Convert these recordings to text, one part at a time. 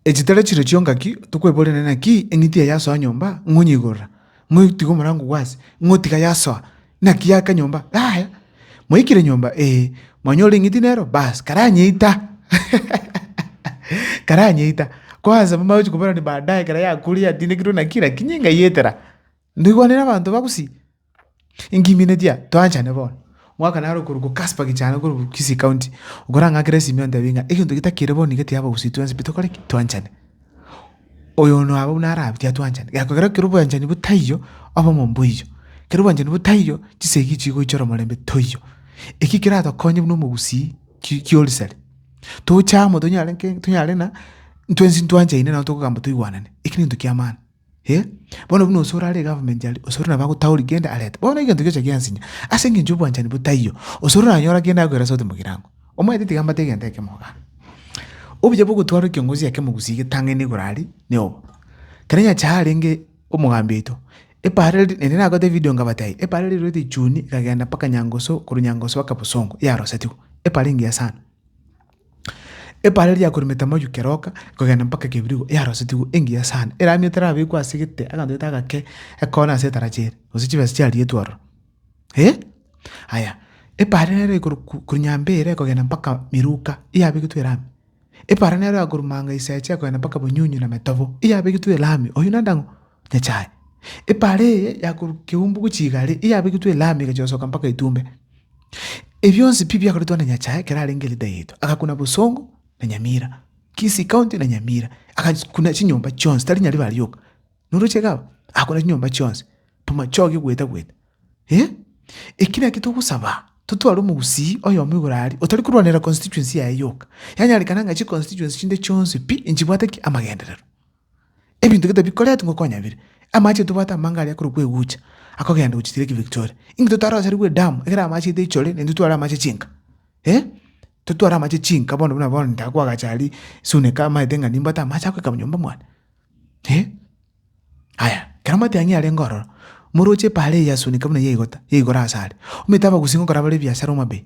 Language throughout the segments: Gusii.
Echi tari chiro chionga ki tokweboria, na inaki eng'iti eye yasoa nyomba, ng'a onyeigorera, ng'a otiga omorango oo ase, ng'a otiga yasoa, naki yaka nyomba? Yaya, mwaikire nyomba? Ee. Mwanyora eng'iti nero? Baas, karanyeita, karanyeita. Kwanza mbache koboranani baadaye ekero yakuire yatindekirwe naki, lakini ngaietera. Ndoigwanire abanto ba Gusii, inki mineti aa? Toanchane bono. Mwaka naro okorokwa Casper Gichana korokwa Kisii County, okorang'akera esimi ontebie ng'a egento eke takere bo nigo ekiya Abagusii twensi pi tokore ki? Toanchane. Oyo ono abwo buna arabe tiatwanchani. Gekogera ekero obwanchani bo taiyo, obomo mboiyo. Ekero obwanchani bo taiyo, chisegi echi chigoichora omorembe toiyo. Eki keratokonye buna Omogusii ki kiorisari. Toche amo tonyare nki? Tonyare ng'a ntwensi ntwanchaine nabo tokogamba toigwanane. Eki nento ki'amaani. eh, bono buna ose orare egovernment aria, ose ore nabo agotauri kende arete. Bono egento giocha giansinya, ase engencho obwanchani botaiyo, ose oranyora kende agoera sauti mogirango, omanyete tiga mbate egento ekemo igaa. Obuya bwa ogotwarwa ekiongozi eke mogusi getang'ani igoro aria, na obo. Kere nyasae arenge omogambi oito, epaara eri- eri nagote evidio nkabate aye, epaara eria riruete echuuni, ekagenda mpaka nyangusu, korwa nyangusu mpaka bosongo, yarosetigwe. Epaara engiya sana. Ebaare riakoremete amayuki keroka, kogenda mpaka ekebirigo yarosetigwe engiya sana, eramia terabekwa ase egete aganto gete agake, ekona ase etarachi ere, gose chibesa chiarietwe ororo. Eh! Aya, ebaare nere ekorwa ko- korwa nyambere kogenda mpaka Miruka, eyabegetwe erami. Ebaare nero ekorwa Manga Isaache kogenda mpaka Bonyunyu na Metobo, eyabegetwe erami. Oyio nande ang'o? nechaye. Epaara eye yakorwa keumbu gochia igare eyabegitwe elami egacha gosoka mpaka etumbe. Ebionsi pi biakoretwe na nyachae ekero arenge leader yaito. Agakuna bosongo na nyamira, kisii county na nyamira, agakuna chinyomba chionsi tari nyaribari rioka, noroche iga abwo? Agakuna chinyomba chionsi, bomachoge gweta gweta. Eh! Eki naki togosaba, totware omogusii oyomo igoro aria, otari korwanera constituency yaye yoka. Yanyarekana ng'a chiconstituency chinde chionsi pi, nchibwate ki? Amagenderero. Ebinto gete bikoretwe ngoko kwanyabire. Amache aye tobwate amanga aria korokwa egucha, akogenda gochia Lake Victoria. Inki totarosarigwe edamu, ekero amache aito aichore, naintwe tware amache chinka? Eh? Intwe tware amache chinka bono buna bono ntago kwagacha aria sune kamaete ng'a nimbwate amache agoika nyomba mwane. Eh? Aya, ekero amatiang'i arenge ororo, moroche epaara eye yasunika buna yaigota, yaigora asare. Omanyete abagusi ngokora bare ebiasara omabei?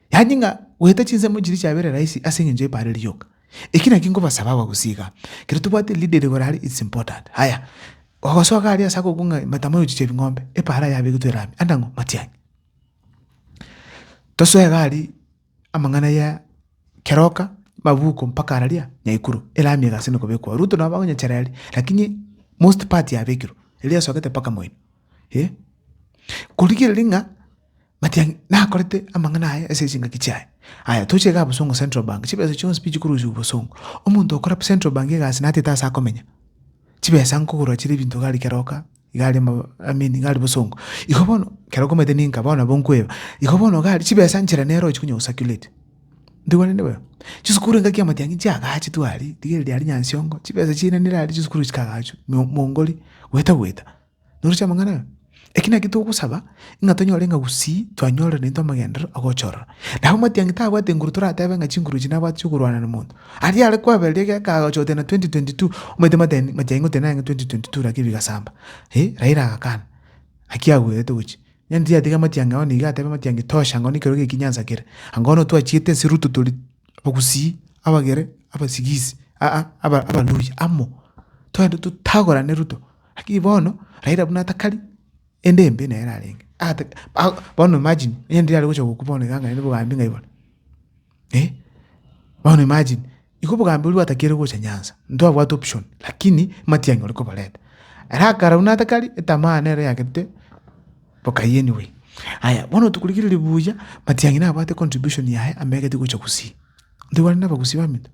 Yaani ng'a goeta chinsemo chiria chiabere rahisi ase engencho y'epaaro eri rioka. Eki nakio nkobasaba abagusii iga, ekero tobwate leader ere igoro aria it's important. Haya, ogosoka aria ase agokwa ng'a mataama ya ochicha ebing'ombe, epaaro aye yabegitwe ere ame, ande ang'o? Matiang'i. Tosoe iga aria amang'ana ya keroka, mabuko mpaka araria nyaikuru, ere ame iga ase nokobekwa. Ruto nabo bagonyechera eria, lakini most part yabekirwe, eria esogete mpaka moino. Eeh. Korigereria ng'a. But ang', nakorete amang'ana aya ase chingaki chiaye. Aya, toche iga bosongo Central Bank, chibesa chionsi pi chikorusiwa bosongo. Omonto okora Central Bank egasi natete ase akomenya. Chibesa nkogorwa chire ebinto iga aria kera oka, iga aria ama, I mean iga aria bosongo. Igo bono, kera okomanyete ninka, bono nabo nkoeba. Igo bono iga aria, chibesa nchera nero ochi konya go circulate. Ntogwenerete bono? Chisukuru engaki ya matiang'i chiagachetwe aria, rigereria aria Nyansiongo, chibesa chiainanire aria chisukuru chikagachwa, mo, Mongori, gweta gweta. Noroche amang'ana aya? Eki nakio togosaba, ng'a tonyore ng'a gusii twanyorire naintwe amagenderero agochorora. Nabo Matiang'i tabwati nguru toratebe ng'a chinguru echi nabwati chi'okorwana na monto. Aria are kwaberire iga ekeagacha goteba na 2022, omanyete Matiang'i Matiang'i goteba narenge 2022 naki bigasamba. Ee, Raila agakana. Naki agwerete gochia. Onye tiyatiga Matiang'i agwo nigo atebe Matiang'i tosha angao nekero eke ekinyansa kere. Angao nigo twachiete nse ruto tore abagusii, abagere, abasigisi, aa, aba abaluhya amo. Twende totagorane ruto. Lakini bono Raila buna atakari ende embe naye ararenge bono imagine onye ndiri arogocha gokwa bono iga ang'aini bogambi ng'a iboro eh bono imagine igo obogambi oria bwatakeire gocha Nyanza ntwabwate option lakini matiang'i ore koborenta ere akara buna atakari etamaa nere eyagete bokai anyway. Aya bono tokorigereria buya matiang'i nabwate contribution yaye amo egete gocha Gusii, intwe bare nabagusii bamino.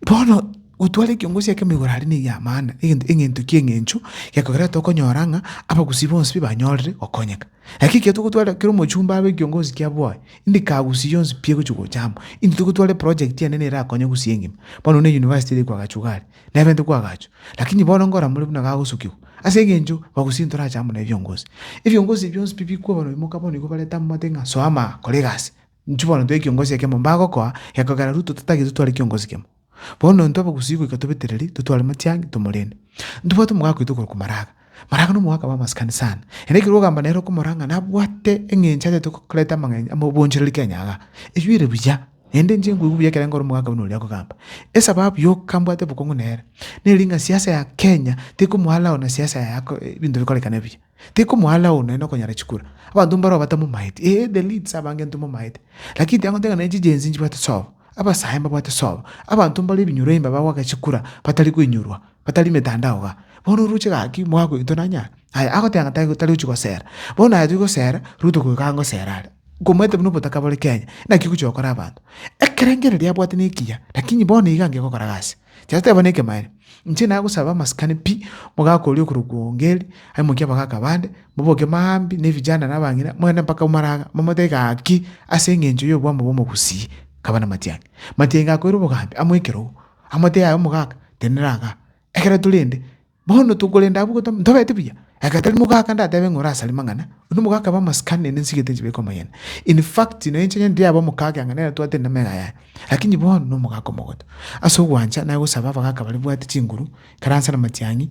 Bono gotwara ekiongo gose ekemo igoro aria negia amaana, egento egento ekia eng'encho gekogera tokonyora ng'a abagusii bonsi pi banyorire gokonyeka. Naki ekiya togotwara kera omochumba abe ekiongo gose ki aboe, indiki agusii yonsi pi egochi gocha amo. Intwe togotwara eproject enene erakonye gusii engima. Bono buna eyunivasiti ere koagachwa iga aria, neberete koagachwa, lakini bono nkora more buna gagosukigwa, ase eng'encho bagusii ntorache amo nebiongo gose. Ebiongo gose bionsi pi bikwa bono bimoka bono igo bareta amate ng'a soama aa, kora egasi. Inchuo bono tore kiongosi ekemo mbagokoa, gekogera Ruto tatagete tware kiongosi kemo. Bono intwe abagusii goika tobetereri, totware Matiang'i, tomorende. Ntobwate omogaka oito okorokwa Maraga. Maraga na omogaka bw'amasikani sana. Ere ekero ogamba nere okomora ng'a nabwate eng'encho atete koreta amang'ench amobonchereri Kenya igaa. Eyio ere buya, naende inche nkoigwa buya ekero nkore omogaka buna oria akogamba. Esababu yoka mbwate bokong'u nere, neri ng'a siasa ya Kenya, tikomoa allow na siasa ya ebinto bikorekane buya. Tekomoalaw naende nokonyara chikura. Abanto mbaro abatamomaeti, ee the leads abange ntomomaete. Lakini tiagote ng'a ne chigenzi nchibwate sobo, abasae mbabwate sobo, abanto mbaro ebinyoro imba bagoaka chikura batari koinyorwa, batari metandao igaa. Bono oroche gaki mwagoitwa nanyare? Aya agoteba ng'a tari tari gochi gosera. Bono aye togosera, Ruto goika iga ngosera are. Nkomoete buna obotaka bore Kenya, naki ogochi gokora abanto. Ekerengererio abwate nekiya, lakini bono iga ngegokora gasi. Tiateba nekemanyererio, inche nagosaba amasikani pi, omogaka oria okorwa Kuongeri, aimokie abagaka bande, moboke maambia ne vijana na abang'ina, mogende mpaka Umaranga, momotebi gaki, ase eng'encho y'obwamo bw'omogusii, kaba namatiang'i. Matiang'i gakoira obogambi amo ekerogo, amotebi aye omogaka, tenena iga, ekero torende. Bono tokorenda abwo gotama, ntobete buya. Ekatari mogaka ndatebe ng'a orasare mang'ana, onde omogaka abe amasikani naende nsigete nchibeke omoyene. In fact, nonya inche nyene ndiabe omokaka ang'e nere twatire namegena yaye. Lakini bono nomogaka omogote. Ase ogwancha naye gosaba abagaka baria bwate chinguru, ikaranse na matiang'i,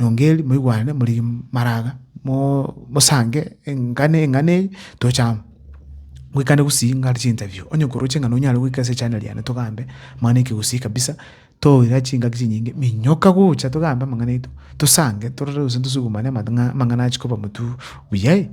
rongeri, moigwane, morigie maraga, mosange engano eng'ana eye toche amo. Goikane gusii ngare chinterview, onye koroche ng'a nonyare goika ase echaneli yane togambe mang'ana ekegusii kabisa. Toira ase chingaki chinyinge, minyoka gocha togambe amang'ana aito, tosange, torore gose ntosugumane amang'ana achia koba motuo buya.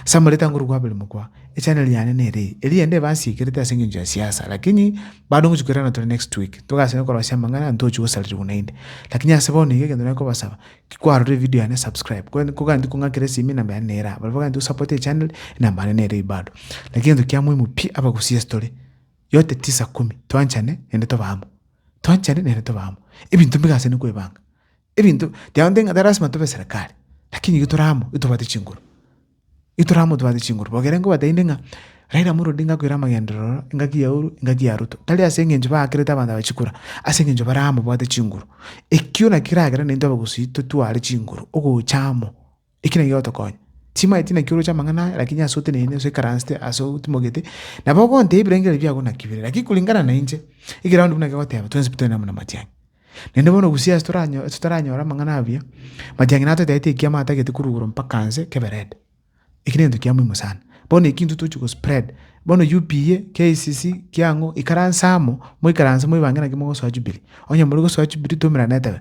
Ase amareta a Ngoru Kwabere mokwa, Echaneli yane nere eye, eria ende ebansiikerete ase engencho ya siasa, lakini bado ngochia koirana tore next week, togasiba korosia amang'ana, ntochia gosaririgwa naende. Lakini ase bono iga egento nari kobasaba, ki kwarorire evidio yane subscribe, kore kogania kong'akera esimi enamba yane nere aa, barabwo abagania gosapote echaneli, enamba yane nere eye bado. Lakini egento kia moimo pi, abagusii ase tore. yote tisa kumi, twanchane naende tobe amo, twanchane naende tobe amo. Ebinto mbiga ase nkoebanga, ebinto tiagonte ng'a tari lasima tobe eserekari, lakini igo tore amo ntobwate chinguru, igo tore amo ntobwate chinguru. Bono ekero nkobataini ng'a Raila Amolo Odinga akoira amagenderero ororo, engaki ya Uhuru, engaki ya Ruto, tari ase eng'encho baakerete abanto aba chikura, ase eng'encho bare amo babwate chinguru. Ekio nakio keragere naintwe abagusii totware chinguru ogocha amo. Eki nakio gigotokonya. Timaeti naki oroche amang'ana aya, lakini ase oteneine, ase oikaransete, ase otimogete, nabo ogontebia ebirengererio biago naki bire, lakini kuringana nainche, ekeround buna kegoteba, twensi pi tore amo na matiang'i. Naende bono gusii ase toranyo ase toranyore amang'ana abuya, matiang'i natoetaete ekiama atagete korwa igoro mpaka nse, kebe red. Eki negento kia moimo sana. Bono eki intwe tochi gospread, bono UPA, KICC, kiang'o, ikaransa amo, moikaranse moibange naki mogosoa Jubilee. Onye more gosoa Jubilee, twaumerane tebe.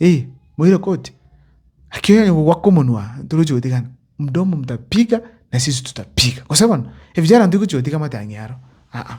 Eeh moire koti naki onye gogoaka omonwa torochi gotigana mdomo mtapiga na sisi tutapiga gose bono ebichara ntogochi gotiga amate ang'e aro aa.